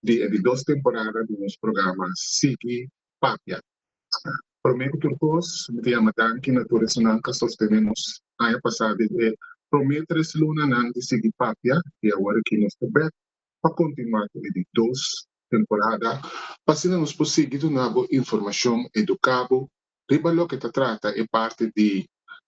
di e di dos temporada di nos programa Sigui Papia. Prome ku tur kos mi ta yama danki na tur esunnan ku a sostené nos aña pasá den e prome tres lunanan di Sigui Papia i awor aki nos ta bèk pa kontinuá ku e di dos temporada pa asina nos por sigui duna bo informashon, eduká bo riba loke ta trata e parti di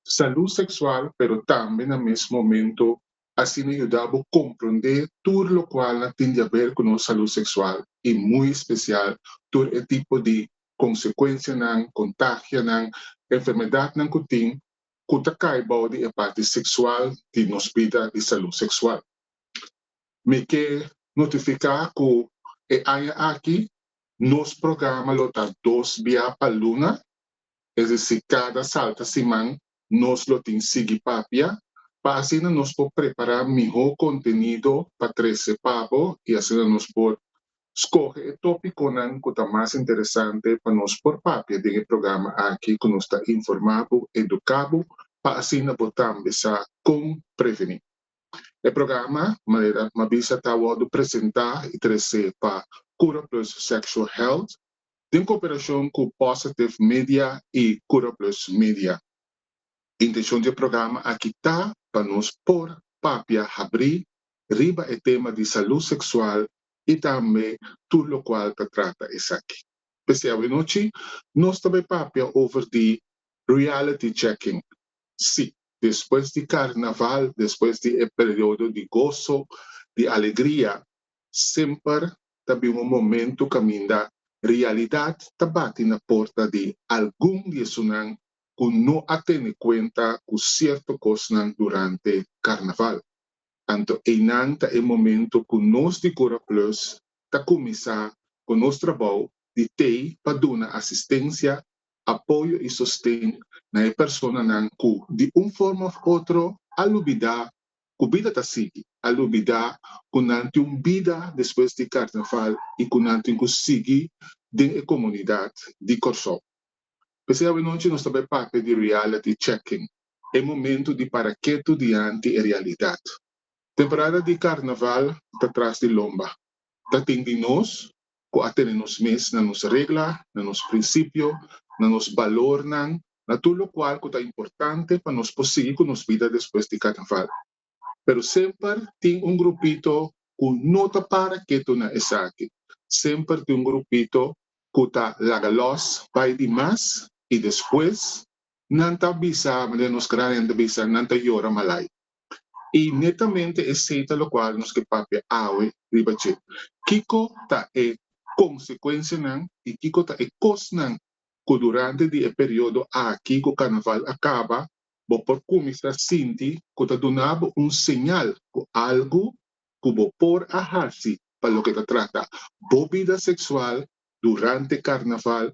salú seksual pero tambe na mes momento asina yuda bo komprondé tur lokual na tin di aber ku nos salú seksual i muy espesial tur e tipo di konsekuensianan, kontagianan, enfermedatnan ku tin ku ta kai bou di e parti seksual di nos bida di salú seksual. Mi ke notifiká ku e aña aki nos programa lo ta dos bia pa luna, es desi kada salta siman nos lo tin sigui papia pa asina nos por prepará mihó kontenido pa trese pa bo i asina nos por skohe e tópikonan ku ta mas interesante pa nos por papia den e programa aki ku nos ta informá bo, eduká bo pa asina bo tambe sa kon prevení. E programa Manera Mabisa ta wòrdu presentá i trese pa Curaplus Sexual Health, den koperashon ku Positive Media i Curaplus Media. Intenshon di e programa aki ta pa nos por papia habrí riba e tema di salú seksual i tambe tur lokual ta trata esaki. P'esei awenochi nos ta bai papia over di Reality Checking. Sí, despues di Karnaval, despues di e periodo di goso, di alegria, Semper ta bin un momentu kaminda realidat ta bati na porta di algun di esunnan ku no a tene kuenta ku sierto kosnan durante Karnaval. Anto einan ta e momentu ku nos di Cura Plus ta kuminsá ku nos trabou di tei pa duna asistensia, apoyo i sosten na e personanan ku di un forma òf otro a lubidá ku bida ta sigui, a lubidá ku nan tin un bida despues di karnaval i ku nan tin ku sigui den e komunidat di Kòrsou. P'esei awenochi nos ta bai papia di reality checking, e momentu di para ketu dianti e realidat. Temporada di karnaval ta tras di lomba. Ta tin di nos ku a tene nos mes na nos regla, na nos prinsipio, na nos balornan, na tur lokual ku ta importante pa nos por sigui ku nos bida despues di karnaval. Pero semper tin un grupito ku no ta para ketu na esaki, semper tin un grupito ku ta laga lòs bai di mas i despues nan ta bisa, manera nos gran hende ta bisa, nan ta yora malai. I netamente esei ta lokual nos ke papia awe riba dje, kiko ta e konsekuensianan i kiko ta e kosnan ku durante di e periodo aki ku karnaval a kaba bo por kuminsá sinti ku ta duna bo un señal ku algu ku bo por a hasi pa loke ta trata bo bida seksual durante karnaval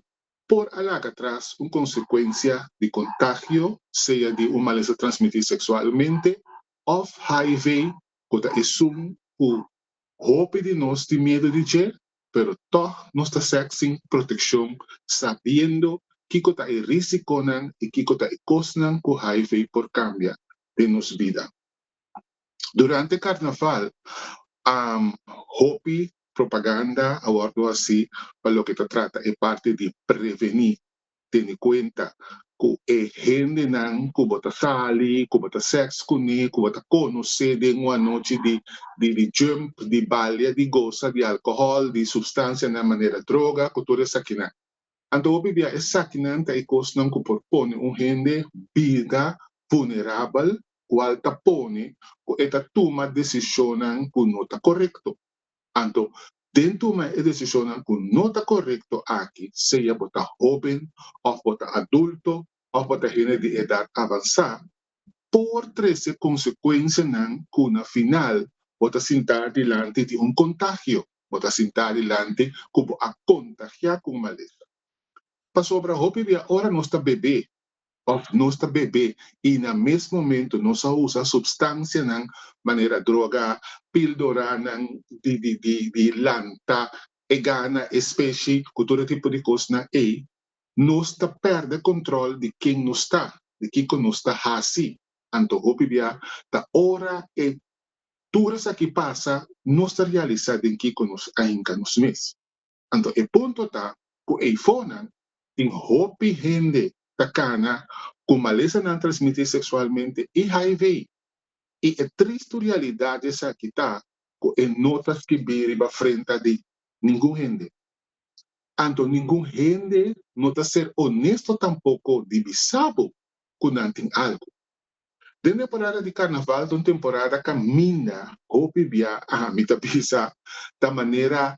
por a laga tras un consecuencia di contagio, sea di un malesa transmiti sexualmente of hiv, cu ta esun cu hopi di nos tin miedo di dje, pero tog nos ta sek sin proteccion sabiendo kico ta e risiconan y kico ta e cosnan cu hiv por cambia den nos bida. Durante Carnaval hopi propaganda a wordo haci pa loke ta trata e parti di preveni, tene cuenta cu e hendenan cu bo ta sali, cu bo ta sex cune, cu bo ta conoce den un anochi di jump, di balia, di gosa, di alcohol, di substancianan manera droga, cu tur esakinan. Anto hopi bia esakinan ta e kosnan ku por pone un hende bida vulnerabel kual ta pone ku e ta tuma desishonnan ku no ta korekto. Anto, den tuma e desishonnan ku no ta korekto aki, sea bo ta hóben òf bo ta adulto òf bo ta hende di edat avansá, por trese konsekuensianan ku na final bo ta sinta dilanti di un kontagio. bo ta sintá dilanti ku bo a kontagiá ku un malesa. Pasobra hopi bia ora nos ta bebé òf nos ta bebé i na mes momentu nos a usa supstansianan manera droga, pildoranan di di di di lanta e gana e speshi ku tur e tipo di kosnan ei, nos ta pèrdè kontròl di ken nos ta, di kiko nos ta hasi. Anto hopi bia ta ora e Tur esaki pasa nos ta realisá den kiko nos a hinka nos mes. Anto e punto ta ku eifonan tin hopi hende ta kana ku malesanan transmití seksualmente hiv i e tristu realidat di esaki ta ku e no ta skibí riba frenta di ningun hende. Anto ningun hende no ta ser onesto tampoko di bisa bo ku nan tin algu. Den temporada di karnaval ta un temporada kaminda hopi bia ami ta bisa ta manera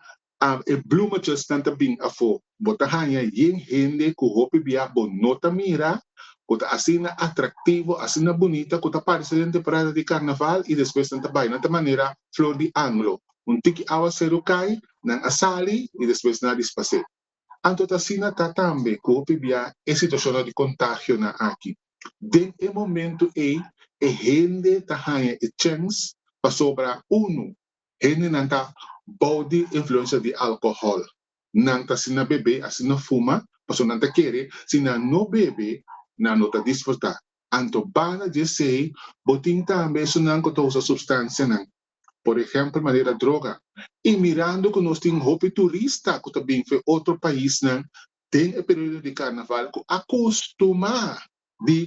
e blumachesnan ta bin afo. Bo ta haña yen hende ku hopi bia bo no ta mira ku ta asina atraktivo, asina bunita ku ta parse den temporada di karnaval i despues nan ta bai. Nan ta manera flor di anglo, un tiki awaseru kai, nan a sali i despues nan a dispas'é. Anto ta asina ta tambe ku hopi bia e situashonnan di kontagionan aki. Den e momentu ei e hende ta haña e chèns pa sobra unu, hendenan ta bou di influensia di alkohòl, nan ta asina bebe, asina fuma, pasobra nan ta kere, si nan no bebe, nan no ta disfrutá. Anto banda di esei, bo tin tambe esunnan ku ta usa supstansianan por ehèmpel manera droga, i mirando ku nos tin hopi turista ku ta bin for otro paisnan den e periodo di karnaval ku a kustumá di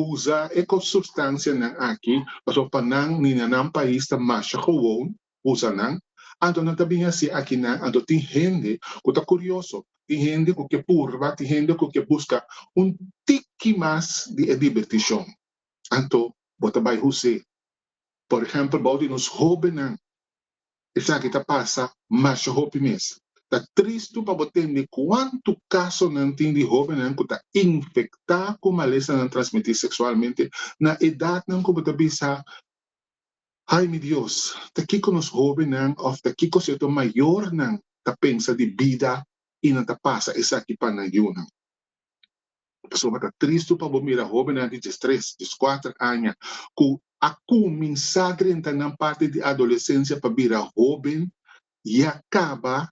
usa e sustansianan aki pasobra pa nan ni na nan pais ta masha gewoon usa nan, anto nan ta bin hasi aki nan, anto tin hende ku ta kurioso, tin hende ku ke purba, tin hende ku ke buska un tiki mas di e dibertishon. Anto bo ta bai hus'é? Por ehempel, bou di nos hóbennan esaki ta pasa masha hopi mes. Ta tristu pa bo tende kuantu kasonan tin di hóbennan ku ta infektá ku malesanan transmití seksualmente na edatnan ku bo ta bisa, Ai mi Dios, ta kiko nos hóbennan òf ta kiko sierto mayornan ta pensa di bida i nan ta pasa esaki pa nan yunan? Pasobra ta tristu pa bo mira hóbennan di dies tres, dies kuater aña ku a kuminsá drenta nan parti di adolesensia pa bira hóben i a kaba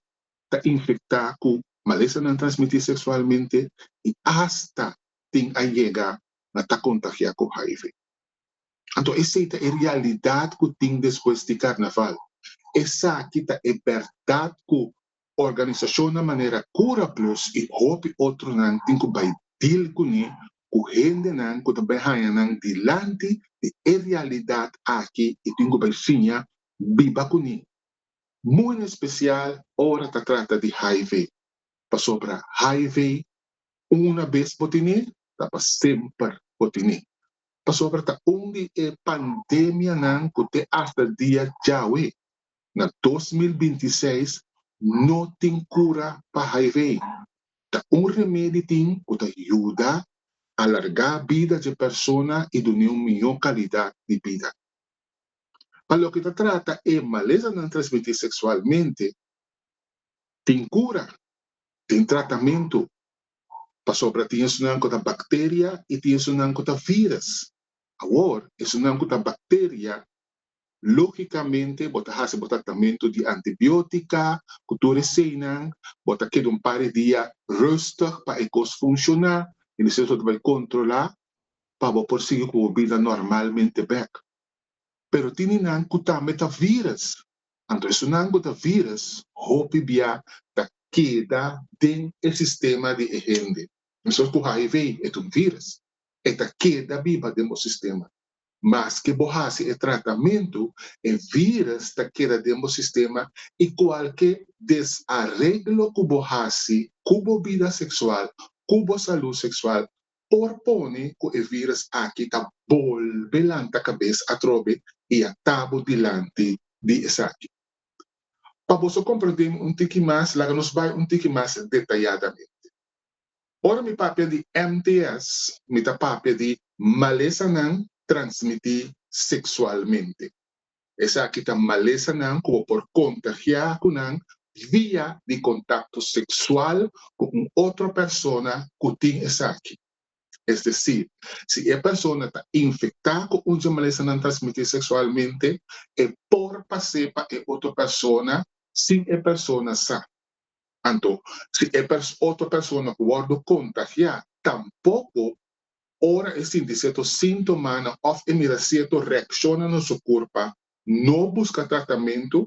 ta infektá ku malesanan transmití seksualmente i asta tin a yega na ta kontagiá ku hiv. Anto esei ta e realidat ku tin despues di karnaval. Esaki ta e bèrdat ku Organisashonnan manera Cura Plus i hopi otronan tin ku bai dil kuné ku hendenan ku ta bai haña nan dilanti di e realidat aki i tin ku bai siña biba kuné, mu en espesial ora ta trata di hiv. Pasobra hiv una bes bo tin'é ta pa semper bo tin'é. Pasobra ta un di e pandemianan ku te asta dia djawe na dos mil binti i seis no tin kura pa hiv. Ta un remedi tin ku ta yuda alargá bida dje persona i dun'é un mihó kalidat di bida. Pa loke ta trata e malesanan transmití seksualmente, tin kura, tin tratamentu, pasobra tin esunnan ku ta bakteria i tin esunnan ku ta vírus. Awor, esunnan ku ta bakteria Lógikamente bo ta hasi bo tratamentu di antibiótika ku tur eseinan, bo ta keda un par di dia rùstig pa e kos funshoná i despues bo ta bai kontrolá pa bo por sigui ku bo bida normalmente bèk. Pero tene nan ku tambe ta vírus, anto esunnan ku ta vírus hopi bia ta keda den e sistema di e hende. Mesor ku hiv, e ta un vírus, e ta keda biba den bo sistema. Maske bo hasi e tratamentu, e vírùs ta keda den bo sistema i kualke desareglo ku bo hasi ku bo bida seksual, ku bo salú seksual, por pone ku e vírùs aki ta bolbe lanta kabes atrobe i a ta bo dilanti di esaki. Pa boso komprondemi un tiki mas, laga nos bai un tiki mas detayadamente. Ora mi papia di MTS, mi ta papia di malesanan transmití seksualmente. Esaki ta malesanan ku bo por kontagiá ku nan via di kontakto seksual ku un otro persona ku tin esaki. Es desir, si e persona ta infektá ku un di e malesanan transmití seksualmente, e por pas'é pa e otro persona sin e persona sa. Anto, si e otro persona ku wòrdu kontagiá tampoko ora e sinti sierto síntomanan òf e mira sierto reakshonnan na su kurpa no buska tratamentu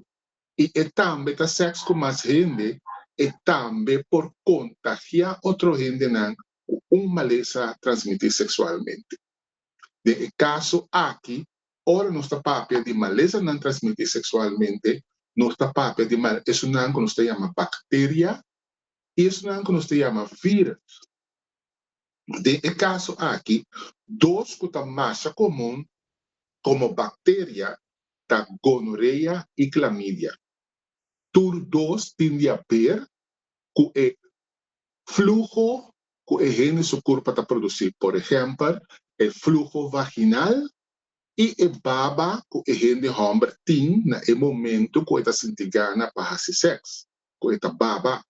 i e tambe ta sèks ku mas hende, e tambe por kontagiá otro hendenan ku un malesa transmití seksualmente. Den e kaso aki, ora nos ta papia di malesanan transmití seksualmente, nos ta papia di mal esunnan ku nos ta yama bakteria i esunnan ku nos ta yama vírus. Den e kaso aki, dos ku ta masha komun komo bakteria ta gonorea i klamidia. Tur dos tin di haber ku e fluho cu e hende su curpa ta produci, por ehempel, e fluho vaginal y e baba cu e hende homber tin na e momento cu e ta sinti gana pa haci sex, cu e ta baba.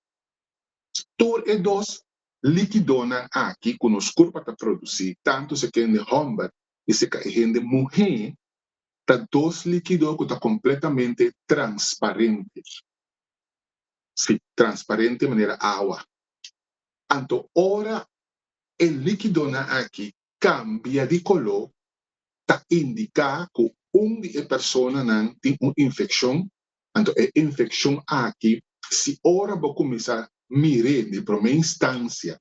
Tur e dos likidonan aki cu nos curpa ta produci, tanto si e hende homber y si ca e hende muhe, ta dos likido cu ta completamente transparente, si, transparente manera awa. Anto ora e likidonan aki kambia di koló ta indiká ku un di e personanan tin un infekshon. Anto e infekshon aki si ora bo kuminsá mir'é di promé instansia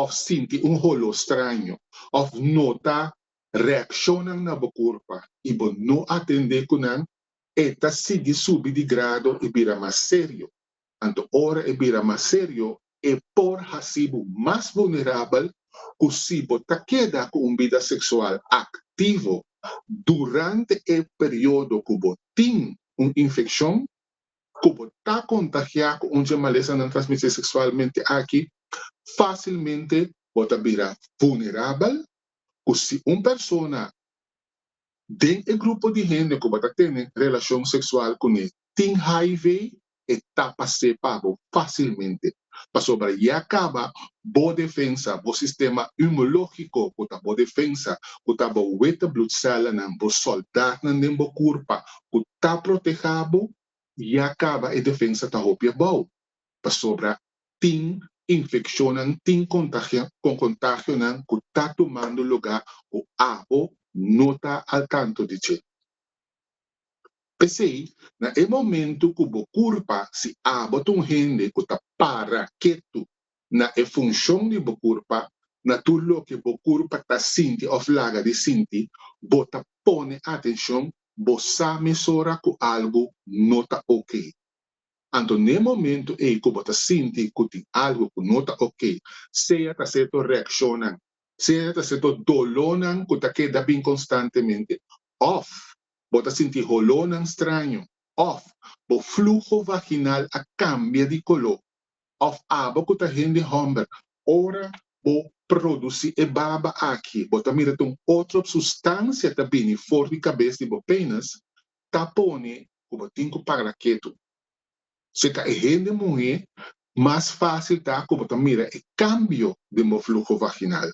òf sinti un holó straño òf nota reakshonnan na bo kurpa i bo no atendé ku nan, e ta sigui subi di grado i bira mas serio. Anto ora e bira mas serio, e por hasi bo mas vulnerabel ku si bo ta keda ku un bida seksual aktivo durante e periodo ku bo tin un infekshon ku bo ta kontagiá ku un dje malesanan transmisí seksualmente aki, fásilmente bo ta bira vulnerabel ku si un persona den e grupo di hende ku bo ta tene relashon seksual kuné tin hiv e ta pas'é pa bo fácilmente, pasobra ya caba bo defensa, bo sistema inmunológico cu ta bo defensa, cu ta bo wete bloedcelanan, bo soldadnan den bo curpa cu ta proteha bo, ya caba e defensa ta hopi abao, pasobra tin infeccionnan, tin contagionan cu ta tumando lugar cu abo no ta al tanto di dje. P'esei, na e momentu ku bo kurpa, si abo ta un hende ku ta para ketu na e funshon di bo kurpa, na tur loke bo kurpa ta sinti òf laga di sinti, bo ta pone atenshon, bo sa mesora ku algu no ta okey. Anto n'e momentu ei ku bo ta sinti ku tin algu ku no ta okey, sea ta seto reakshonnan, sea ta seto dolónan ku ta keda bin konstantemente, òf bo ta sinti holónan straño, òf bo fluho vaginal a kambia di koló, òf aba ku ta hende hòmber. Ora bo produsí e baba aki bo ta mira ta un otro sustansia ta bini for di kabes di bo pénis ta pone ku bo tin ku para ketu. Serka e hende muhé mas fásil ta ku bo ta mira e kambio den bo fluho vaginal.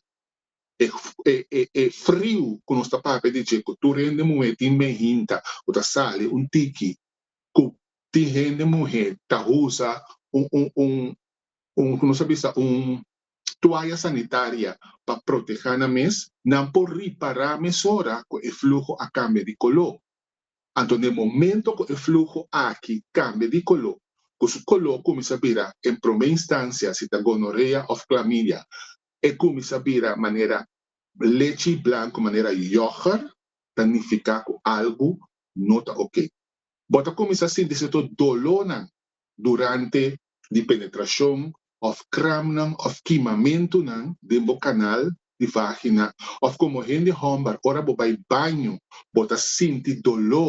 e e friu ku nos ta papia di dje ku tur hende muhé tin me hinta ku ta sali un tiki ku tin hende muhé ta usa un un un un ku nos ta bisa un tuaya sanitaria pa protehá nan mes nan por ripará mesora ku e fluho a kambia di koló anto den momento ku e fluho aki kambia di koló ku su koló kuminsá bira en promé instansia si ta gonorea òf klamidia E kuminsá bira manera lechi blanku, manera yògùrt, ta nifiká ku algu no ta ok. Bo ta kuminsá sinti sierto dolónan durante di penetrashon òf kramnan òf kimamentunan den bo kanal di vágina òf komo hende hòmber ora bo bai baño bo ta sinti doló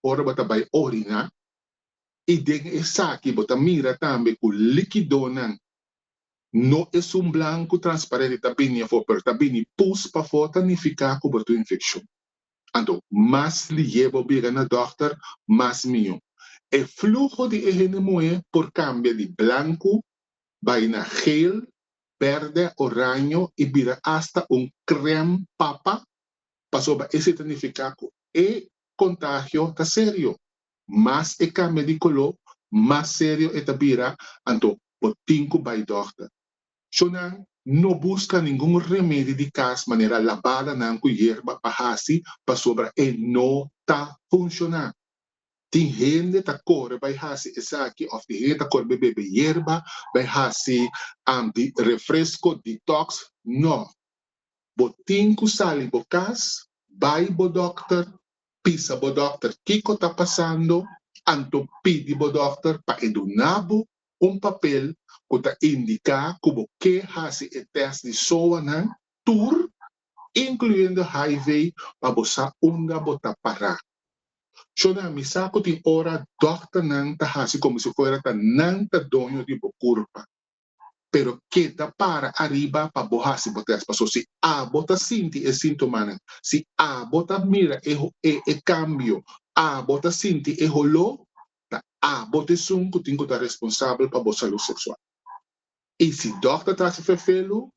ora bo ta bai oriná i den esaki bo ta mira tambe ku líkidonan No esun blanku transparente ta bini afó, pero ta bini pus pafó ta nifiká ku bo ta un infekshon. Anto, mas lié bo biega na dòkter, mas mihó. E fluho di e hende muhé por kambia di blanku bai na geel, bèrdè, oraño i bira asta un krèm papa, pasobra esei ta nifiká ku e kontagio ta serio. mas e kambia di koló, mas serio e ta bira, anto bo tin ku bai dòkter. Shonnan no buska ningun remedi di kas manera labadanan ku yerba pa hasi pasobra e no ta funshoná. Tin hende ta kore bai hasi esaki òf tin hende ta kore bai bebe yerba, bai hasi anti refresko, detox. No. Bo tin ku sali bo kas, bai bo dòkter, pisa bo dokter kiko ta pasando, anto pidi bo dokter pa e duna bo un papel ku ta indiká ku bo ke hasi e tèst di SOAnan tur, inkluyendo hiv, pa bo sa unda bo ta pará. Shona, mi sa ku tin ora dokternan ta hasi komo si fuera ta nan ta doño di bo kurpa. pero keda para ariba pa bo hasi bo tèst. Pasó si abo ta sinti e síntomanan, si abo ta mira e e kambio, abo ta sinti e holó, ta abo ta esun ku tin ku ta responsabel pa bo salú seksual. I si dòkter ta hasi fefelu,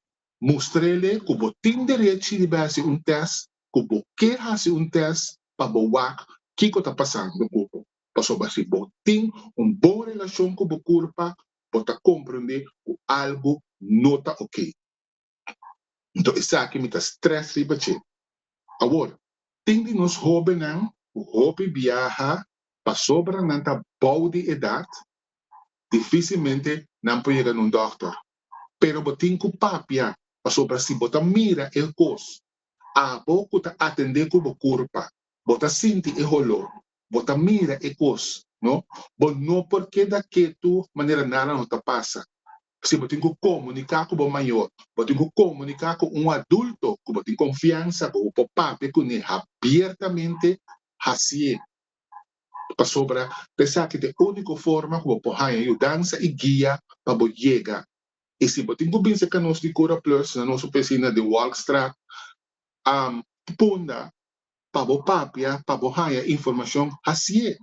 mustr'ele ku bo tin derechi riba e hasi un tèst, ku bo ke hasi un tèst pa bo wak kiko ta pasando ku bo. Pasobra si bo tin un bon relashon ku bo kurpa, bo ta comprende cu algo no ta ok. Nto esaki mi ta stress riba dje. Awor, tin di nos hobennan cu hopi biaha pasobra nan ta bao di edad, dificilmente nan por yega na un dokter. Pero bo tin cu papia pasobra si bo ta mira e hos, abo cu ta atende cu bo curpa, bo ta sinti e holor Bo ta mira e kos, no? Bo no por keda ketu manera nada no ta pasa. Si bo tin ku komuniká ku bo mayor, bo tin ku komuniká ku un adulto ku bo tin konfiansa, ku bo por papia kuné habiertamente, hasié. Pasobra ta esaki ta e úniko forma ku bo por haña yudansa i guia pa bo yega. I si bo tin ku binse ka nos di Cura Plus na nos opisina di Walkstraat, am punda pa bo papia pa bo haña informashon hasié.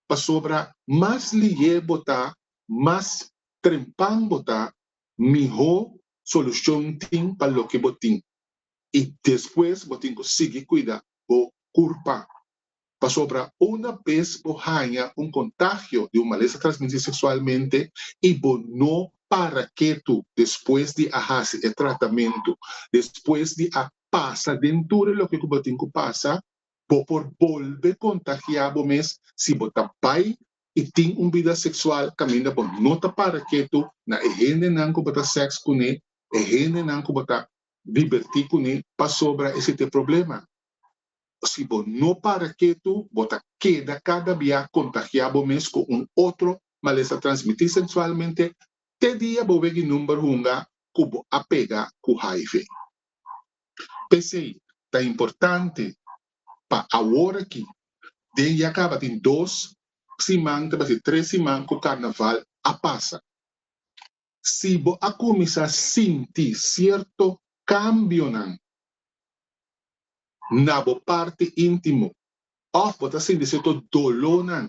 Pasobra mas lihé bo ta, mas trempan bo ta, mihó solushon tin pa loke bo tin. I despues bo tin ku sigui kuida bo kurpa. Pasobra una bes bo haña un kontagio di un malesa transmisí seksualmente i bo no para ketu despues di a hasi e tratamentu, despues di a pasa den tur loke ku bo tin ku pasa, bo por bolbe kontagiá bo mes si bo ta bai i tin un bida seksual kaminda bo no ta para ketu na e hendenan ku bo ta sèks kuné, e hendenan ku bo ta dibertí kuné, pasobra esei ta e problema. Si bo no para ketu, bo ta keda kada bia kontagiá bo mes ku un otro malesa transmití seksualmente te dia bo weg'i number hunga ku bo a pega ku hiv. P'esei ta importante pa awor aki den ya kabatin dos siman ta basi tres siman ku karnaval a pasa. Si bo a kuminsá sinti sierto kambionan na bo parti íntimo òf bo ta sinti sierto dolónan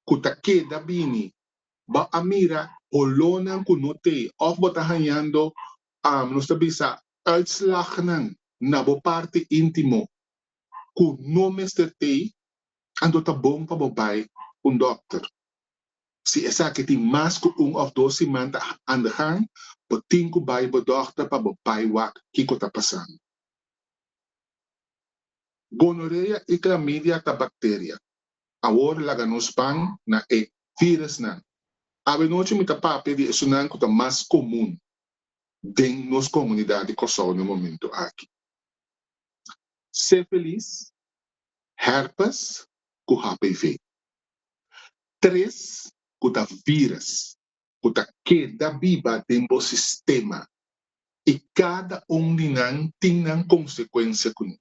ku ta keda bini, bo a mira holónan ku no tei òf bo ta hañando Am nos ta bisa uitslagnan na bo parti intimo ku no mester tei, anto ta bon pa bo bai un dokter. Si esaki tin mas ku un òf dos siman ta anda gaan, bo tin ku bai bo dokter pa bo bai wak kiko ta pasando. Gonorea i klamidia ta bakteria. Awor laga nos ban na e virusnan. Avenochi mi ta papia di esunnan ku ta mas komun den nos komunidat di Kòrsou na e momentu aki, Sifilis, Herpes ku HPV. Tres ku ta virus. ku ta keda biba den bo sistema i kada un di nan tin nan konsekuensia kuné.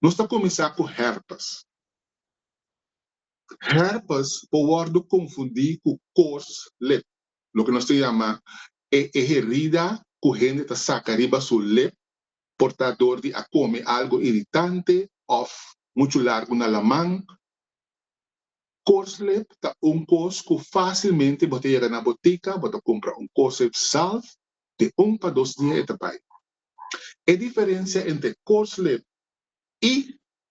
Nos ta kuminsá ku hèrpes. Hèrpes por wòrdu konfundí ku kors lep, loke nos ta yama e e herida ku hende ta saka riba su lep por ta ador di a kome algu iritante òf muchu largu na laman. Corslet ta un cos cu facilmente bo ta yega na botica, bo ta cumpra un corslet zalf, den un pa dos dia e ta bay. E diferencia entre corslet y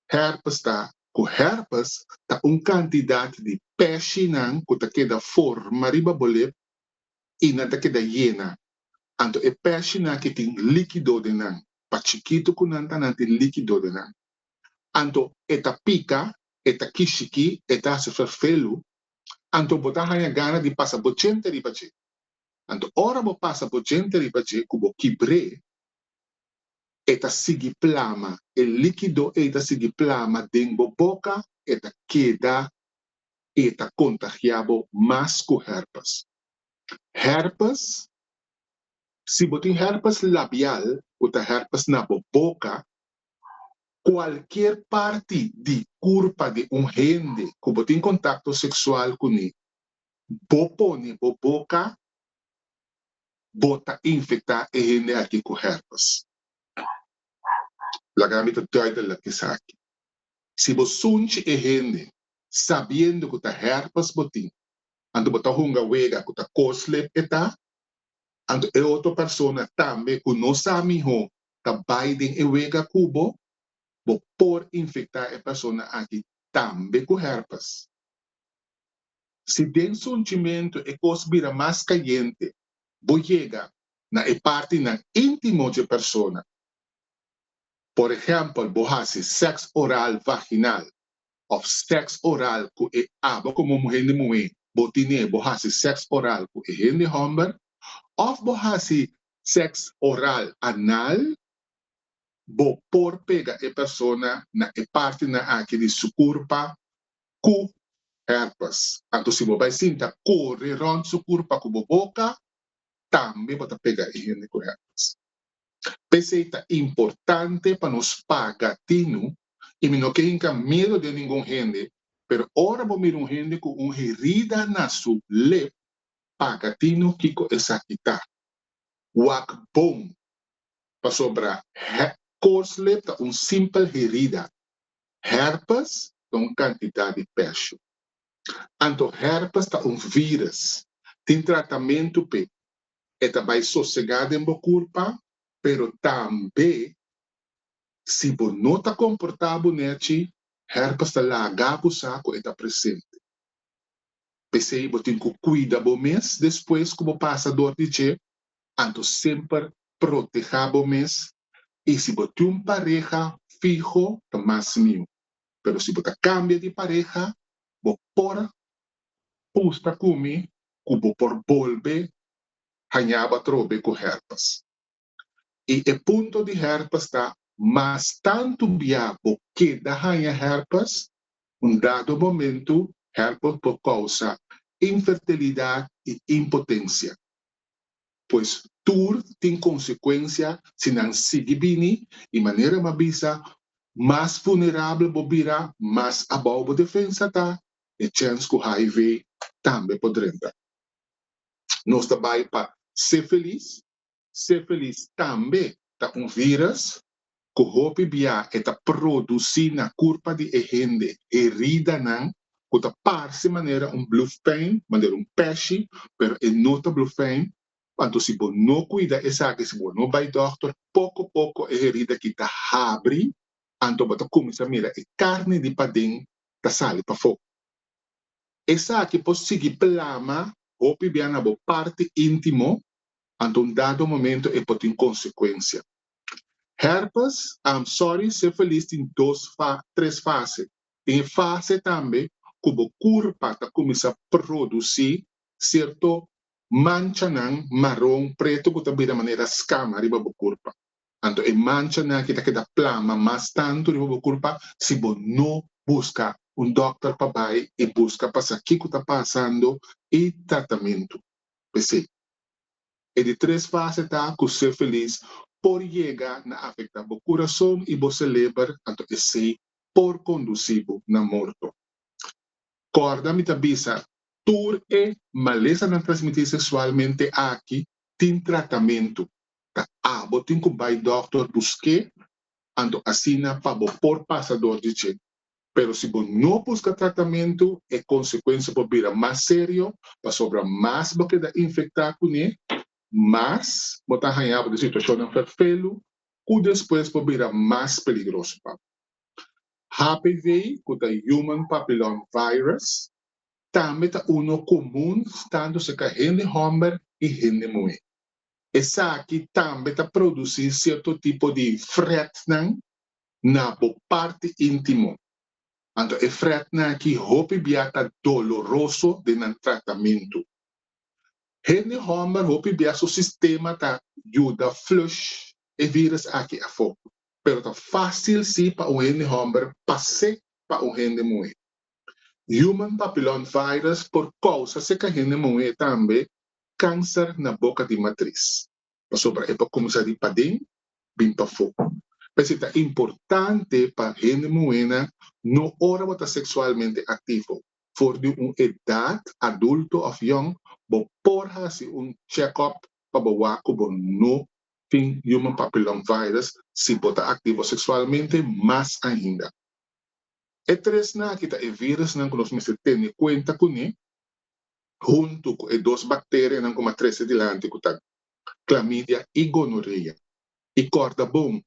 herpes ta cu herpes ta un cantidad di peshinan cu ta keda forma riba bo lep y nan ta keda yena, anto e peshinan aki tin liquido den nan, pa chikito cu nan ta nan tin liquido den nan, anto e ta pica e ta kishiki, e ta hasi ferfelu, anto bo ta haña gana di pasa bo djente riba dje. Anto ora bo pasa bo djente riba dje ku bo kibr'é, e ta sigui plama, e líkido ei ta sigui plama den bo boka, e ta keda i e ta kontagiá bo mas ku hèrpes. Hèrpes, Si bo tin hèrpes labial, ku ta hèrpes na bo boka, Cualkier parti di curpa di un hende cu bo tin contacto sexual cune, bo pone bo boca, bo ta infecta e hende aki cu herpes. Laga mi ta duidelijk esaki. Si bo sunchi e hende sabiendo cu ta herpes bo tin, anto bo ta hunga wega cu ta coslip e ta, anto e otro persona tambe cu no sa miho ta bai den e wega ku bo, bo por infektá e persona aki tambe ku hèrpes. Si den su hunchimentu e kos bira mas kayente, bo yega na e partinan íntimo dje persona, por ehèmpel bo hasi sèks oral vaginal òf sèks oral ku e aba komo un hende muhé bo tine bo hasi sèks oral ku e hende hòmber òf bo hasi sèks oral, anal, bo por pega e persona na e partinan aki di su kurpa ku hèrpes. Anto si bo bai sinta kore rònt su kurpa ku bo boka, tambe bo ta pega e hende ku hèrpes. P'esei ta importante pa nos paga tinu i mi no ke hinka miedu den ningun hende, pero ora bo mira un hende ku un herida na su lep, paga tino kiko esaki ta. Wak bon, pasobra he koslip ta un simpel herida. Herpes ta un kantidat di pèsho. Anto herpes ta un vírus. Tin tratamentu p'e. E ta bai sosegá den bo kurpa, pero tambe si bo no ta komportá bo nèchi, herpes ta laga akusá ku e ta presente. P'esei bo tin ku kuida bo mes despues ku bo pasa dor di dje. Anto semper protehá bo mes i si bo tin un pareha fiho ta mas miu. Pero si bo ta kambia di pareha bo por pusta ku mi ku bo por bolbe hañaba atrobe ku hèrpes. i e punto di hèrpes ta mas tantu bia bo keda haña hèrpes, un dado momentu hèrpes por kousa infertilidat i impotensia. Pues tur tin konsekuensia si nan sigui bini i manera mi a bisa mas vulnerabel bo bira, mas abou bo defensa ta, e chèns ku hiv tambe por drenta. Nos ta bai pa Se Felis Sífilis tambe ta un vírùs ku hopi biaha e ta produsí na kurpa di e hende heridanan ku ta parse manera un blufèn, manera un pèshi, pero e no ta blufèn. Anto si bo no kuida esaki, si bo no bai dòkter, poko poko e herida ki ta habri, anto bo ta kuminsá mira e karni di paden ta sali pafó. Esaki por sigui plama hopi biaha na bo parti íntimo Anta un dado momento e por tin consecuencia. Herpes, I'm sorry, sifilis tin dos fa, tres fase. Tin e fase tambe cu bo curpa ta cuminsa produci cierto manchanan maron, preto cu ta bira manera escama riba bo curpa. Anto e manchanan aki ta keda plama mas tanto riba bo curpa si bo no busca un dokter pa bay y busca pa sa kico ta pasando y tratamento. P'esei, e di tres fase ta ku ser felis por yega na afektá bo kurason i bo seleber, anto esei por kondusí bo na morto. Kòrda mi ta bisa, tur e malesanan transmití seksualmente aki tin tratamentu, ta abo tin ku bai dòkter busk'é, anto asina pa bo por pasa dor di dje. Pero si bo no buska tratamentu, e konsekuensia por bira mas serio, pasobra mas bo keda infektá kuné, mas bo ta hañá bo den situashonnan ferfelu ku despues por bira mas peligroso pa bo. HPV, ku ta Human Papillom Virus, tambe ta uno komun tantu serka hende hòmber i hende muhé. Esaki tambe ta produsí sierto tipo di frètnan na bo parti intimo. Anto e fretnan aki hopi bia ta doloroso den nan tratamentu. Hende homber hopi bia su sistema ta yuda flush e virus aki afo, pero ta facil si pa un hende homber pas'e pa un hende muhe. Human papillon virus por causa seca hende muhe tambe cancer na boca di matris. pasobra e por kuminsá di paden bin pafó. P'esei ta importante pa hende muhénan no ora bo ta seksualmente aktivo. For di un edat adulto òf yòn bo por hasi un chèkòp pa bo wak ku bo no tin Human Papillom Virus si bo ta aktivo seksualmente. Mas ainda, e tresnan akí ta e vírusnan ku nos mester tene kuenta kuné. huntu ku e dos bakterianan ku m'a trese dilanti ku ta klamidia i gonorea. I kòrda bon,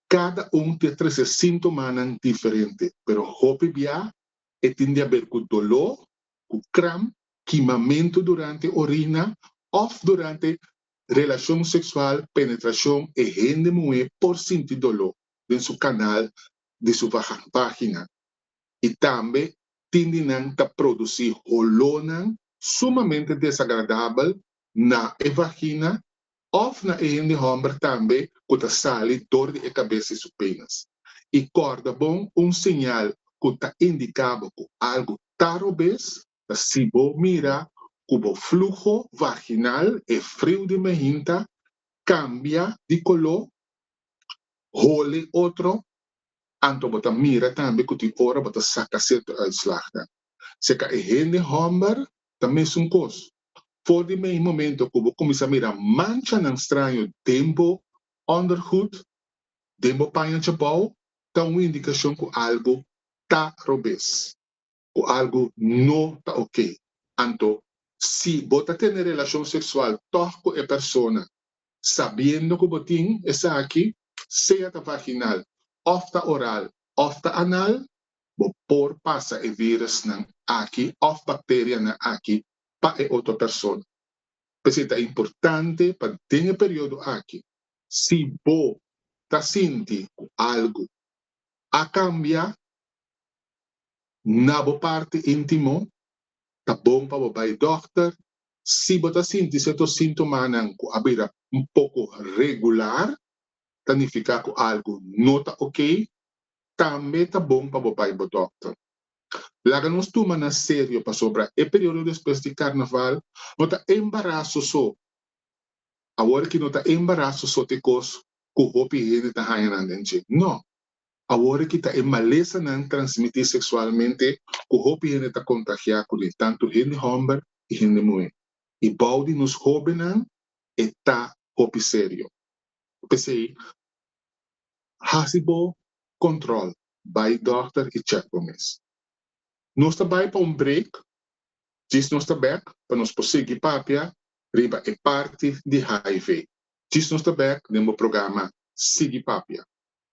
kada un tin a trese síntomanan diferente, pero hopi biá e tin di haber ku doló, ku kram, kimamentu durante orina òf durante relashon seksual, penetrashon, e hende muhé por sinti doló den su kanal di su vagen, página. i tambe tin di nan ta produsí holónan sumamente desagradabel na e vagina òf na e hende hòmber tambe ku ta sali dor di e kabes i su penis. I kòrda bon un señal ku ta indiká bo ku algu ta robes? Si bo mira ku bo fluho vaginal, e friu di mehinta, kambia di koló, hole otro, anto bo ta mira tambe ku tin ora bo ta saka sierto uitslagnan. Seka e hende hòmber ta mesun kos. For di mei momento ku bo kuminsá mira manchanan straño den bo òndergoed, den bo paña djabou, ta un indikashon ku algu ta robes. cu algo no ta ok. Anto, si bo ta tene relacion sexual tog cu e persona sabiendo cu bo tin esaki, sea ta vaginal of ta oral of ta anal, bo por pasa e virusnan aki of bacterianan aki pa e otro persona. P'esey ta importante pa den e periodo aki, si bo ta sinti cu algo a cambia, Na bo parti intimo, ta bon pa bo bai dokter si bo ta sinti serto sintomanan ku a bira un poko regular, ta nifiká ku algu no ta okey. Tambe ta bon pa bo bai bo dokter. Laga nos tuma na serio pasobra e periodo despues di Karnaval no ta embaraso so. Awor aki no ta embaraso so t'e kos ku hopi hende ta haña nan den dje. No. Awor ki ta e malesanan transmití seksualmente ku hopi hende ta kontagiá kuné, tantu hende hòmber i hende muhé. I bou di nos hóbennan e ta hopi serio. P'esei, hasi bo kòntròl, bai dòkter i chèk bo mes. Nos ta bai pa un brek, djis nos ta bèk pa nos por sigui papia riba e parti di hiv. Djis nos ta bèk den bo programa Sigui Papia.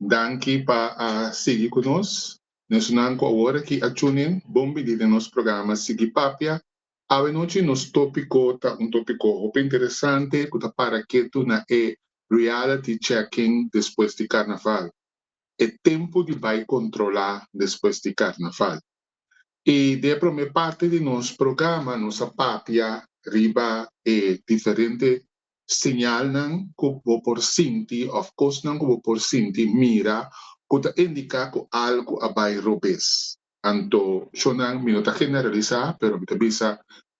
Danki pa a sigui ku nos. Nesunan ku awor aki a tune in, bon bini den nos programa Sigui Papia. Awenochi nos topiko ta un topiko hopi interesante ku ta para ketu na e reality checking despues di Karnaval, e tempu di bai kontrolá despues di Karnaval. I den e promé parti di nos programa nos a papia riba e diferente Siñalnan ku bo por sinti òf kosnan ku bo por sinti mira ku ta indiká ku algu a bai robes. Anto shonnan mi no ta generalisá, pero mi ta bisa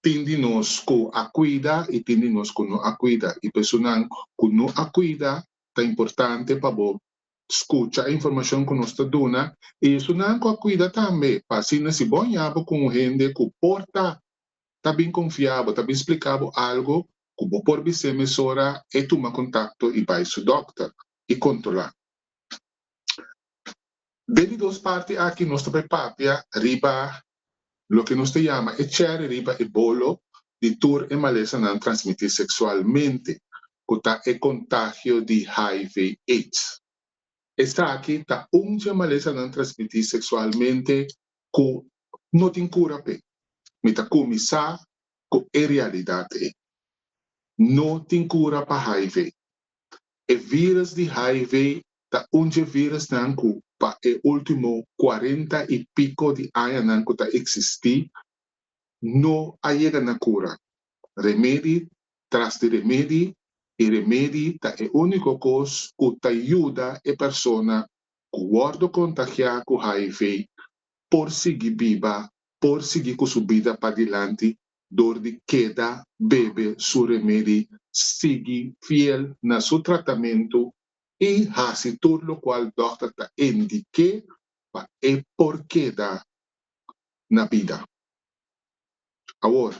tin di nos ku a kuida i tin di nos ku no a kuida. I pa esunnan ku no a kuida ta importante pa bo skucha e informashon ku nos ta duna i esunnan ku a kuida tambe pa asina si bo a ña bo ku un hende ku por ta ta bin konfiá bo, ta bin spliká bo algu, ku bo por bis'é mesora e tuma kontakto i bai su dòkter i kontrolá. Den e dos parti aki nos ta bai papia riba loke nos ta yama e chèri riba e bolo di tur e malesanan transmití seksualmente, ku ta e kontagio di hiv, aids. Esaki ta un dje malesanan transmití seksualmente ku no tin kura p'e. Mi ta kuminsá cu e realidad ei. No tin cura pa hiv. E virus di hiv ta un dje virusnan cu pa e ultimo cuarenta y pico di añanan cu ta existi no a yega na cura. Remedi tras di remedi y remedi ta e unico cos cu ta yuda e persona cu wordo contagia cu hiv por sigui biba por sigui cu su bida padilanti dor di keda bebe su remedi, sigui fiel na su tratamento y haci tur locual dokter ta indique pa e por keda na bida. Awor,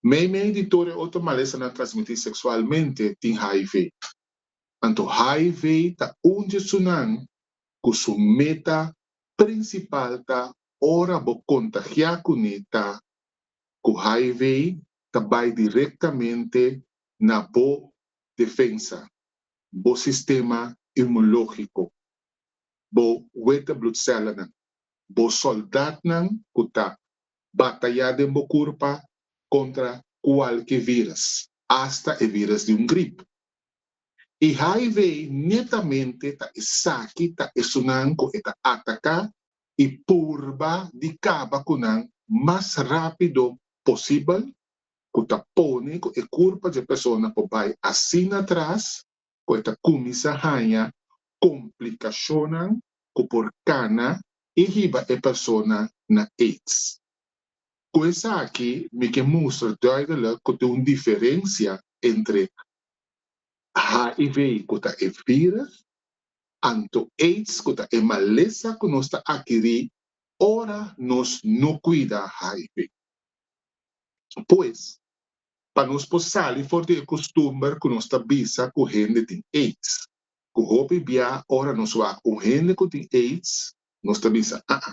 meimei di tur e otro malesanan transmiti sexualmente tin hiv. Anto hiv ta un di esunan cu su meta Prinsipal ta ora bo kontagiá kuné ta ku hiv ta bai direktamente na bo defensa, bo sistema inmunológiko, bo wete blutsèlanan, bo sòldatnan ku ta batayá den bo kurpa kontra kualke vírus, asta e vírus di un grip. E hiv netamente ta esaki ta esunnan cu e ta ataca y purba di caba cu nan mas rapido posibel, cu ta pone cu e curpa dje persona por bay asina atras cu e ta cuminsa haya complicacionnan cu por cana y hiba e persona na aids. Ku esaki mi ke mustra duideluk ku tin un diferensia entre HIV ku ta e virus anto aids ku ta e malesa ku nos ta adkirí ora nos no kuida HIV. Pues, pa nos por sali for di e kustumber ku nos ta bisa ku hende tin aids, ku hopi bia ora nos wak un hende ku tin aids nos ta bisa, aa.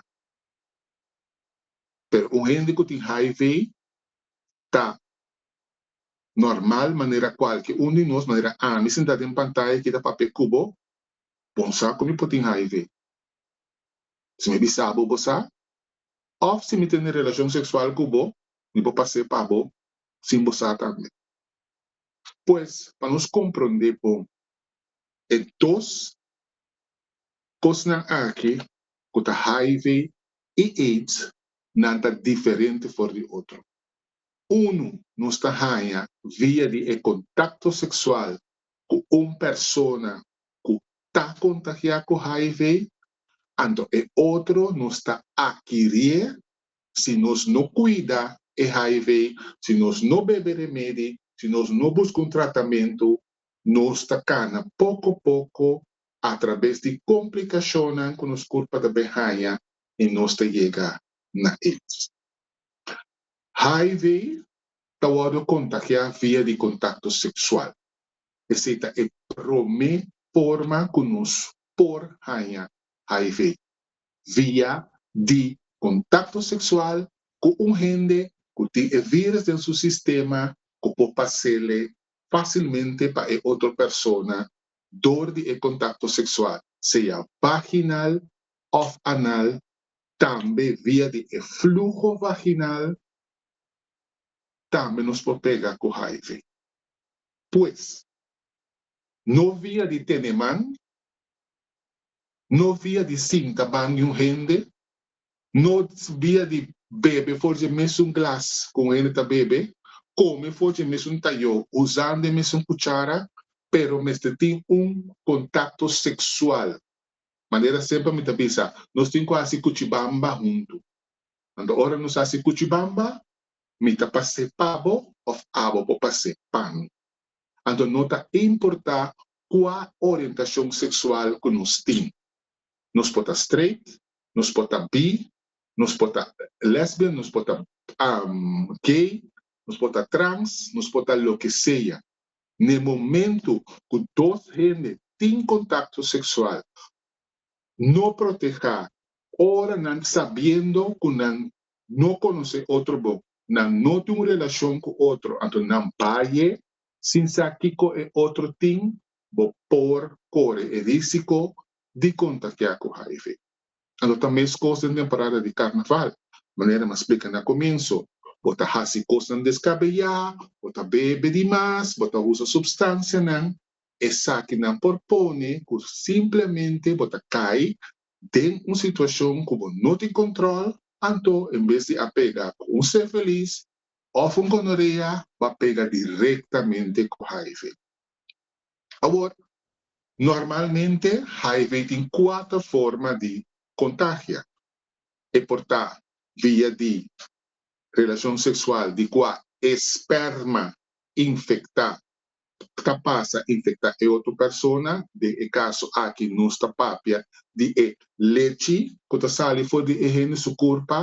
pero un hende cu tin hiv ta normal manera cualke un di nos, manera ami sinta den pantaya aki ta papia cu bo, bon sa cu mi por tin hiv, si mi bisa bo bo sa, of si mi tene relacion sexual cu bo mi por pase pa bo sin bo sa tambe. Pues pa nos compronde bon e dos Kosnan aki ku ta hiv i aids nan ta diferente for di otro. Unu nos ta haña via di e kontakto seksual ku un persona ku ta kontagiá ku hiv, anto e otro nos ta akirié si nos no kuida e hiv, si nos no bebe remedi, si nos no buska un tratamentu, nos ta kana poko poko a trabes di komplikashonnan ku nos kurpa ta bin haña i nos ta yega na AIDS. Hiv ta wòrdu kontagiá via di kontakto seksual, esei ta e promé forma ku nos por haña hiv, via di kontakto seksual ku un hende ku tin e vírus den su sistema ku por pas'é lei fásilmente pa e otro persona dor di e contacto sexual, sea vaginal of anal, tambe via di e fluho vaginal, tambe nos por pega cu hiv. Pues, no via di tene man, no via di sinta ban di un hende, No bia di bebe for dje mesun glas ku un hende ta bebe, kome for dje mesun tayó usando e mesun kuchara, pero mester tin un kontakto seksual. Manera semper mi ta bisa, nos tin ku hasi kuchibamba huntu. Anto ora nos hasi kuchibamba, mi ta pas'é pa bo òf abo por pas'é pa mi. Anto no ta importá kua orientashon seksual ku nos tin. Nos por ta straight, nos por ta bi, nos por ta lesbian, nos por ta gay, nos por ta trans, nos por ta loke sea. Na e momento cu dos hende tin contacto sexual no proteha, ora nan sabiendo cu nan no conoce otro bon, nan no tin un relacion cu otro, anto nan baye sin sa kico e otro tin, bo por kore e risiko di kontakiá ku hiv. A lo ta meskos den temporada di karnaval. Manera mi a splika na komienso, bo ta hasi kosnan deskabeyá, bo ta bebe di mas, bo ta usa supstansianan, esakinan por pone ku simplemente bo ta kai den un situashon ku bo no tin kòntròl, anto en bes di a pega ku un sífilis òf un gonorea bo a pega direktamente ku hiv. Awor, normalmente hiv tin kuater forma di kontagia. E por ta via di relashon seksual di kua e spèrma infektá ta pasa infektá e otro persona, den e kaso aki nos ta papia di e lechi ku ta sali for di e hende su kurpa,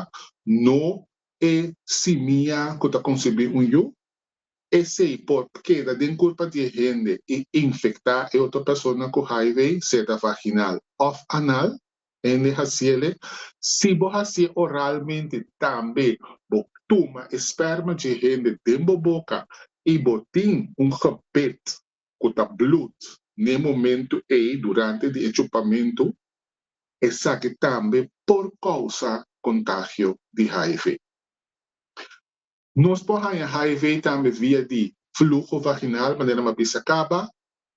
no e simia ku ta konsibí un yu. Esei por keda den kurpa di e hende i infektá e otro persona ku hiv, seta vaginal òf anal, hende hasiele. Si bo hasié oralmente tambe bo tuma e spèrma dje e hende den bo boka i bo tin un gebit ku ta blùt n'e momentu ei durante di e chupamentu, esaki tambe por kousa kontagio di hiv. Nos por haña hiv tambe via di fluho vaginal, manera mi a bisa caba,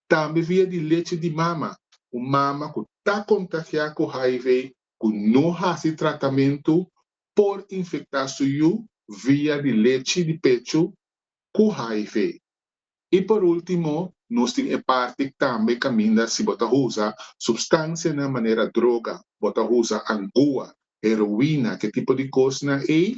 tambe via di leche di mama. Un mama cu ta contagia cu hiv cu no haci tratamento por infecta su yu via di leche di pecho cu hiv. Y por ultimo, nos tin e parti tambe caminda si bo ta usa substancianan manera droga, bo ta usa angua, heroina, ke tipo di cosnan ey,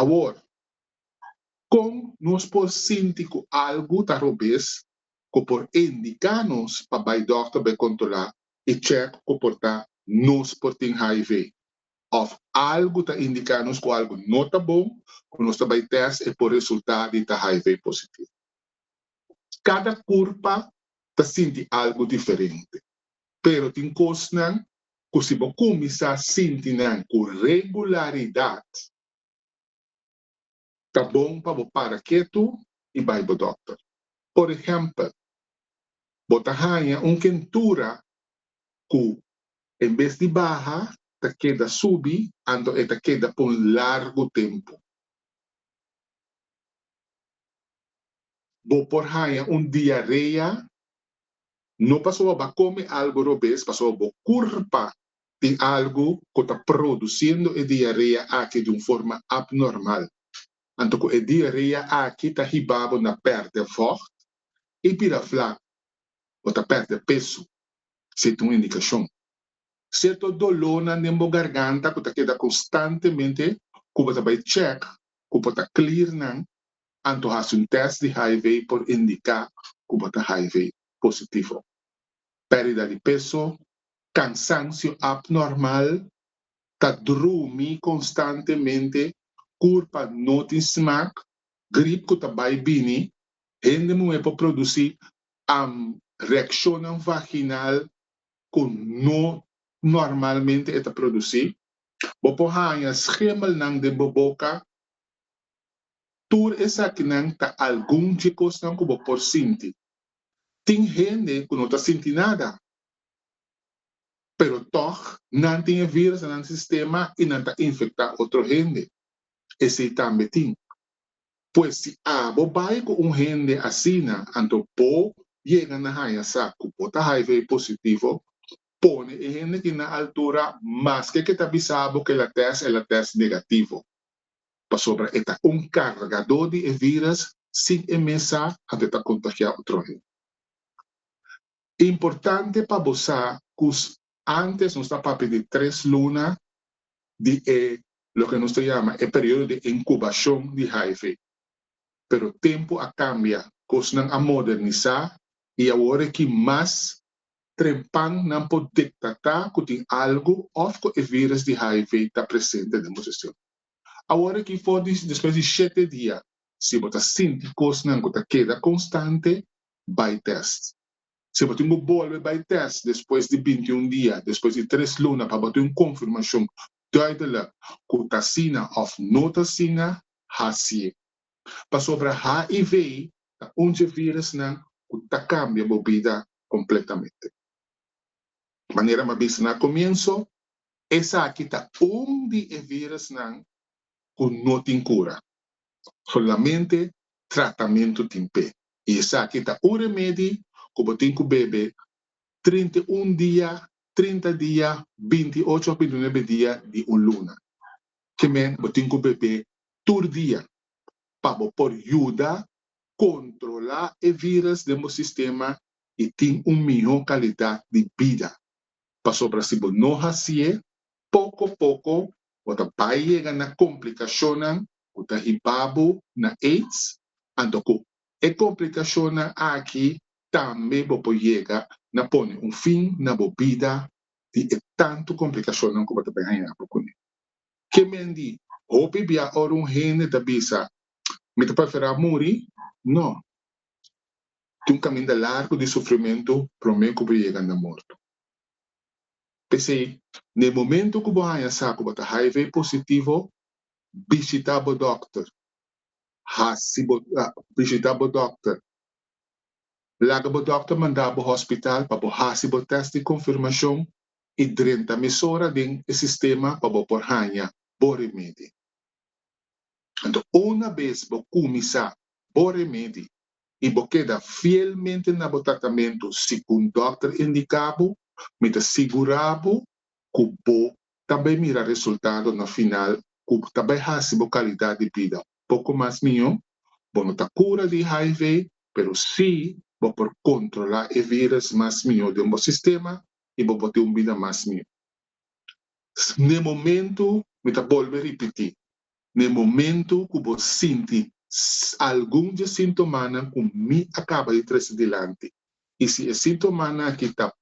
Awor, kon nos por sinti ku algu ta robes ku por e indiká nos pa bai dòkter pa e kontrolá i chèk ku por ta nos por tin hiv? Òf algu ta indiká nos ku algu no ta bon ku nos ta bai tèst e por resultá di ta hiv positivo? Kada kurpa ta sinti algu diferente. pero tin kosnan ku si bo kuminsá sinti nan ku regularidat, ta bon pa bo para ketu i bai bo dòkter. Por ehèmpel, bo ta haña un kentura ku en bes di baha ta keda subi anto e ta keda pa un largu tempu. Bo por haña un diarea No pasobra bo a kome algu robes pasobra bo kurpa tin algu ku ta produsindo e diarea aki di un forma abnormal. Anto ku e diarea aki ta hiba bo na pèrdè vògt i bira flak o ta pèrdè peso, si e ta un indikashon. Sierto dolónan den bo garganta ku ta keda konstantemente ku bo ta bai chèk ku bo ta klir nan anto hasi un tèst di hiv por indiká ku bo ta hiv positivo. Pèrdida di peso, kansansio apnormal, ta drumi konstantemente, kur pa no tin smak, grip ku ta bai bini, hende muhé por produsí am reakshonnan vaginal ku no normalmente e ta produsí, bo por haña schemelnan den bo boka, Tur esakinan ta algun dje kosnan ku bo por sinti. Tin hende ku no ta sinti nada, pero tòg nan tin e vírùs na nan sistema i nan ta infektá otro hende. Esei tambe tin. Pues si abo bai ku un hende asina, anto bo yega na haña sa ku bo ta hiv positivo, pone e hende kin na altura, maske ke ta bisa bo ku el a tèst, el a tèst negativo. pasobra e ta un kargadó di e vírus sin e mes sa hant'e ta kontagiá otro hende. Importante pa bo sa ku ántes nos ta papia di tres luna di e loke nos ta yama e periodo di inkubashon di hiv, pero tempu a kambia, kosnan a modernisá i awor e ki mas trempan nan por detecta cu tin algo of cu e virus di hiv ta presente den bo sistema. Awor aki for di despues di shete dia si bo ta sinti cosnan cu ta keda constante bay test. Si bo tin cu bolbe bay test despues di binti un dia, despues di tres luna pa bo tin un confirmacion duidelijk cu ta asina of no ta asina, hacié. pasobra HIV ta un dje virusnan ku ta kambia bo bida kompletamente. Manera m'a bisa na komienso, esaki ta un di e virusnan ku no tin kura, solamente tratamentu tin p'e, i esaki ta un remedi ku bo tin ku bebe trinta i un dia, trinta dia, binti i ocho òf binti i nuebe dia di un luna. Ki men bo tin ku bebe tur dia pa bo por yuda kontrolá e vírus den bo sistema i tin un mihó kalidat di bida. Pasobra si bo no hasié, poko poko bo ta bai yega na komplikashonnan ku ta hibá bo na aids, anto ku e komplikashonnan aki tambe bo por yega na pone un fin na bo bida di e tantu komplikashonnan ku bo ta bin haña bo kuné. Ke men di, Hopi bia ora un hende ta bisa, Mi ta preferá muri. No. Tin un kaminda largu di sufrimentu promé ku bo yega na morto. P'esei, na e momentu ku bo haña sa ku bo ta hiv positivo, bishitá bo dòkter. Hasi bo bishitá bo dòkter. Laga bo dòkter manda bo hospital pa bo hasi bo tèst di konfirmashon i drenta mesora den e sistema pa bo por haña bo remedi. Anto una bes bo kuminsá bo remedi i bo keda fielmente na bo tratamentu segun dòkter indiká bo, mi ta sigurá bo ku bo ta bai mira resultado na final ku ta bai hasi bo kalidat di bida poko mas mihó. Bo no ta kura di hiv, pero sí bo por kontrolá e vírus mas mihó den bo sistema i bo por tin un bida mas miu. N'e momentu, mi ta bolbe ripití, n'e momentu ku bo sinti algun dje sintomanan ku mi a kaba di trese dilanti, i si e sintomanan akí ta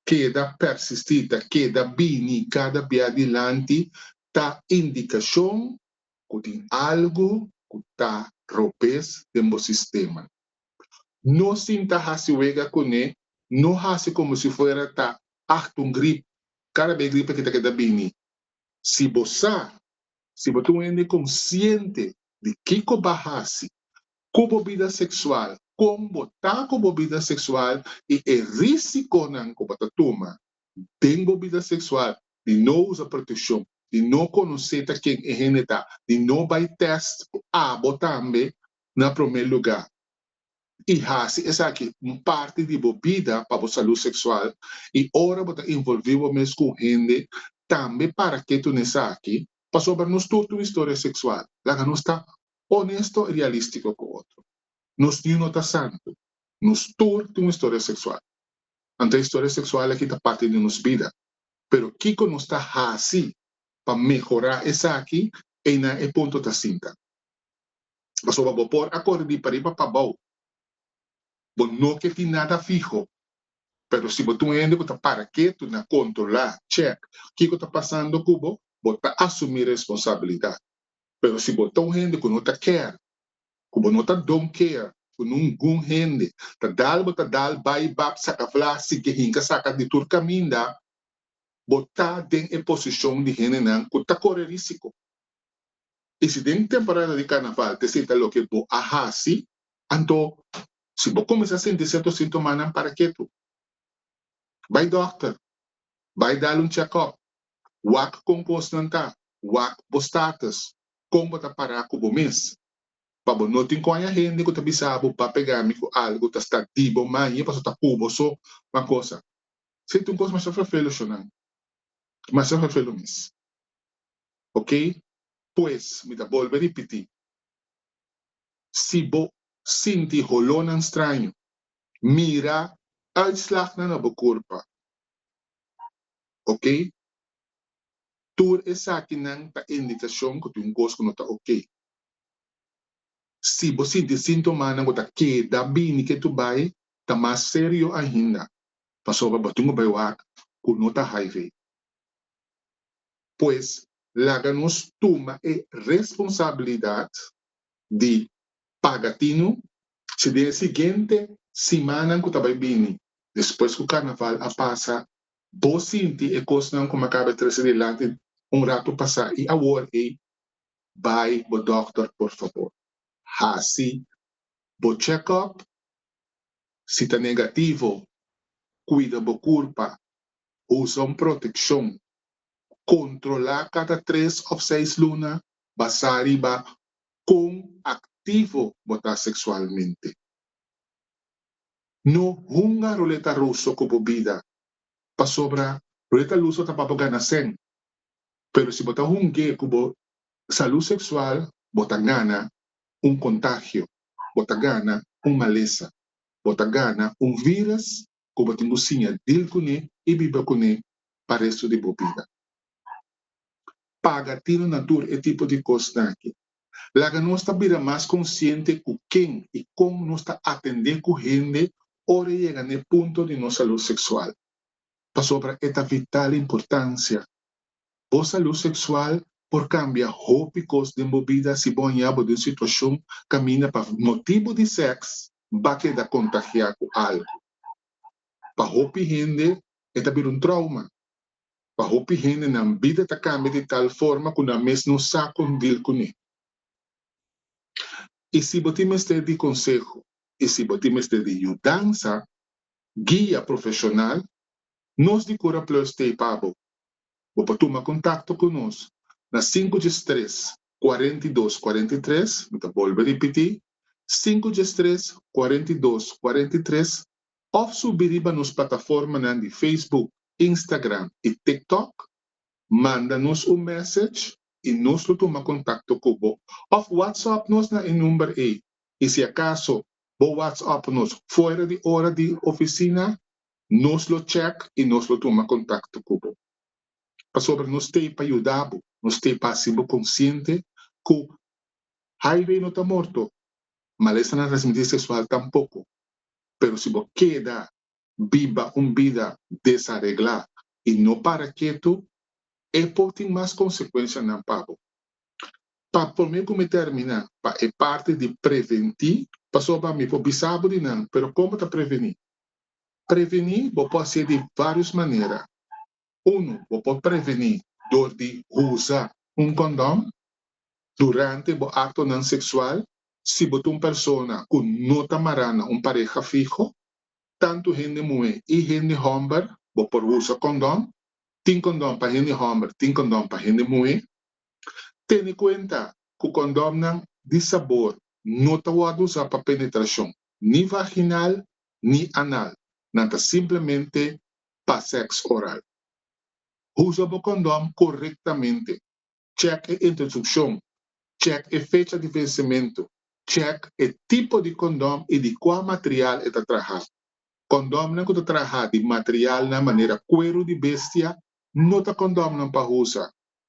keda pèrsistí, ta keda bini kada bia dilanti, ta indikashon ku tin algu ku ta robes den bo sistema. No sin ta hasi wega kuné, no hasi komo si fuera ta acht un grip, kada b'e gripe ki ta keda bini. Si bo sa, si bo ta un hende konsiente di kiko b'a hasi ku bo bida seksual, kon bo ta ku bo bida seksual i e risikonan ku bo ta tuma den bo bida seksual di no usa protekshon, di no konosé ta ken e hende ta, di no bai tèst ku abo tambe, na promé lugá, i hasi esaki un parti di bo bida pa bo salú seksual, i ora bo ta involví bo mes ku un hende, tambe para ke tuna esaki, pasobra nos tur tin un historia seksual. Laga nos ta onesto i realístiko ku otro. Nos niun no ta santu. Nos tur tin un historia seksual. Anto e historia seksual aki ta parti di nos bida. Pero kiko nos ta hasi pa mehorá esaki, einan e punto ta sinta. Pasobra bo por a kore di pariba pa bou. Bo no ke tin nada fiho. Pero si bo ta un hende ku ta para ketu na kontrolá, chèk, kiko ta pasando ku bo, bo ta asumí responsabilidat. Pero si bo ta un hende ku no ta kèr, ku bo no ta don kea ku ningun hende, ta dal bo ta dal bai bap saka fla sigui hinka saka di tur kaminda, bo ta den e posishon di hendenan ku ta kore rísiko. I si den temporada di karnaval ta esei ta loke bo a hasi, anto si bo kuminsá sinti serto sintomanan para ketu. Bai dòkter, bai dal un chèkòp, wak kon kosnan ta, wak bo status, kon bo ta pará ku bo mes. Pa bo no tin koña hende ku ta bisa bo ba pegá mi ku algu ta sta di bo mañe paso ta ku bo so ma kosa. Seti un kos masha fefelu shonan, masha fefelu mes. Ok, pues mi ta bolbe ripití, si bo sinti holónan straño, mira uitslagnan na bo kurpa. Ok, tur esakinan ta indikashon ku ta un kos ku no ta ok. Si bo sinti síntomanan ku ta keda bini ke tur bai, ta mas serio ainda, pasobra bo tin ku bai wak ku no ta hiv. Pues laga nos tuma e responsabilidat di paga tinu si den e siguiente simannan ku ta bai bini, despues ku karnaval a pasa, bo sinti e kosnan ku mi a kaba di trese dilanti un ratu pasá i awor ei, bai bo dòkter por fabor. Hasi bo chèkòp, si ta negativo, kuida bo kurpa, Usa un protekshon kontrolá kada tres òf seis luna basá riba kon aktivo bo ta seksualmente. No hunga ruleta ruso ku bo bida, pasobra ruleta luso ta pa bo gana sen. Pero si bo ta hung'é ku bo salú seksual, bo ta gana un kontagio, bo ta gana un malesa, bo ta gana un vírus ku bo tin ku siña dil kuné i biba kuné pa restu di bo bida. Paga tira na tur e tipo di kosnan akí. Laga nos ta bira mas konsiente ku ken i kon nos ta atendé ku hende ora e yega na e punto di nos salú seksual, pasobra e ta vital importansia Bo salú seksual por kambia hopi kos den bo bida si bo hañá bo den un situashon kaminda pa motibu di sèks ba keda kontagiá ku algu. Pa hopi hende e ta bira un trouma. Pa hopi hende nan bida ta kambia di tal forma ku nan mes no sa kon dil kuné. I si bo tin mester di konseho i si bo tin mester di yudansa, guia profeshonal Nos di Cura Plus ta ei pa bo. Bo por tuma contacto cu nos na sinku djes tres, cuarenta i dos, cuarenta i tres, mi ta bolbe ripití, sinku djes tres, cuarenta i dos, cuarenta i tres, of subi riba nos plataformanan di Facebook, Instagram i TikTok, manda nos un message i nos lo tuma contacto cu bo, of WhatsApp nos na e number ei. I si acaso bo WhatsApp nos fuera di ora di oficina, Nos lo check i nos lo tuma kontakto ku bo. Pasobra nos t'ei pa yuda bo, nos t'ei pa hasi bo konsiente ku Highway no ta morto, malesta na transmitir seksual tampoko. Pero si bo keda biba un bida desareglá i no para ketu, e por tin mas konsekuensianan pa bo. Pa promé ku mi terminá pa e parti di preventí, pasobra mi por bisa bo di nan, pero kon bo ta prevení? Prevení bo por hacié di varios manera. Uno, bo por prevení dor di usa un condón durante bo actonan sexual si bo ta un persona cu no ta mará na un pareha fiho. Tanto hende muhé y hende homber bo por usa condón. Tin condón pa hende homber, tin condón pa hende muhé. Tene cuenta cu condomnan di sabor no ta worde usá pa penetracion ni vaginal ni anal, nan ta simplemente pa sèks oral. Usa bo kondòm korektamente, chèk e introdukshon, chèk e fecha di vensementu, chèk e tipo di kondòm i di kua material e ta trahá. Kondòmnan ku ta trahá di materialnan manera kueru di bestia no ta kondòmnan pa usa.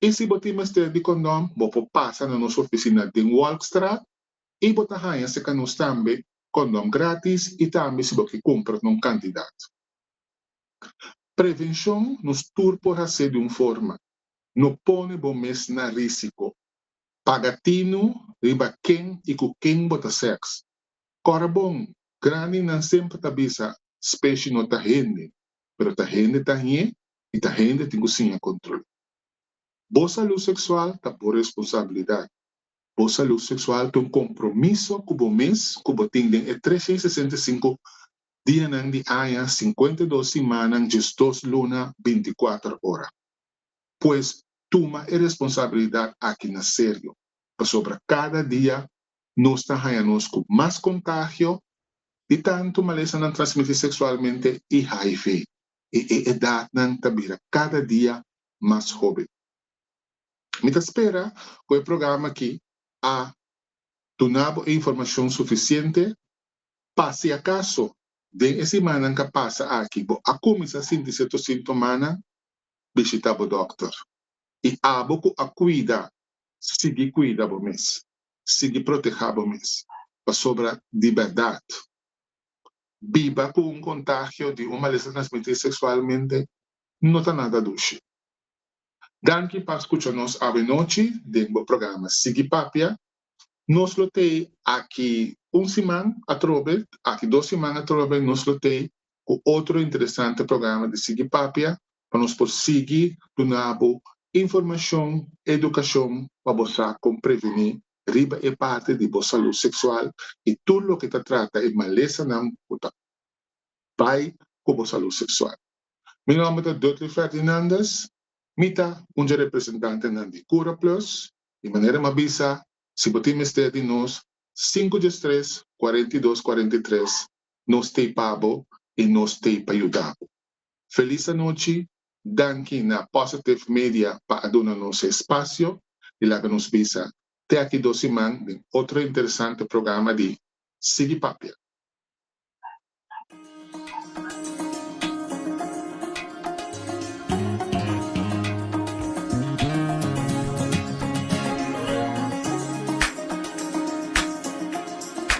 I si bo tin mester di kondom, bo por pasa na nos ofisina den Wolkstraat i bo ta haña seka nos tambe kondom gratis i tambe si bo ke kumpra ta un kantidat. Prevenshon nos tur por hase di un forma, no pone bo mes na risiko. Paga tinu riba ken i ku ken bo ta sèks. Kòrda bon, grandinan semper ta bisa, Speshi no ta hende, pero ta hende ta hñe i ta hende tin ku siña kontrol. Bo salú seksual ta bo responsabilidat. Bo salú seksual ta un kompromiso ku bo mes ku bo tin den e tresha i sesenta i sinku dianan di aña, sinkuenta i dos simannan, diesdos luna, binti kuater ora. Pues, tuma e responsabilidat aki na serio, pasobra kada dia nos ta haña nos ku mas kontagio di tantu malesanan transmití seksualmente i hiv. i e edatnan ta bira kada dia mas hoben. Mi ta spera ku e programa aki a duna bo e informashon sufisiente pa si akaso den e simannan ka pasa aki bo a kuminsá sinti sierto sintomanan, bishita bo dòkter. I abo ku a kuida, sigui kuida bo mes, sigui protehá bo mes, pasobra di bèrdat biba ku un kontagio di un malesa transmití seksualmente no ta nada dushi. Danki pa skucha nos awenochi den bo programa Sigui Papia. Nos lo tei aki un siman atrobe, aki dos siman atrobe nos lo tei ku otro interesante programa di Sigui Papia pa nos por sigui duna bo informashon, edukashon pa bo sa kon prevení riba e parti di bo salú seksual i tur loke ta trata e malesanan ku ta bai ku bo salú seksual. Mi nòmber ta Dudley Ferdinandez, mi ta un dje representantenan di Cura Plus i manera m'a bisa si bo tin mester di nos sinku djes tres kuarenta i dos kuarenta i tres nos t'ei pa bo i nos t'ei pa yuda bo. Felis anochi, danki na Positive Media pa a duna nos e spasio di laga nos bisa te aki dos siman den otro interesante programa di Sigui Papia.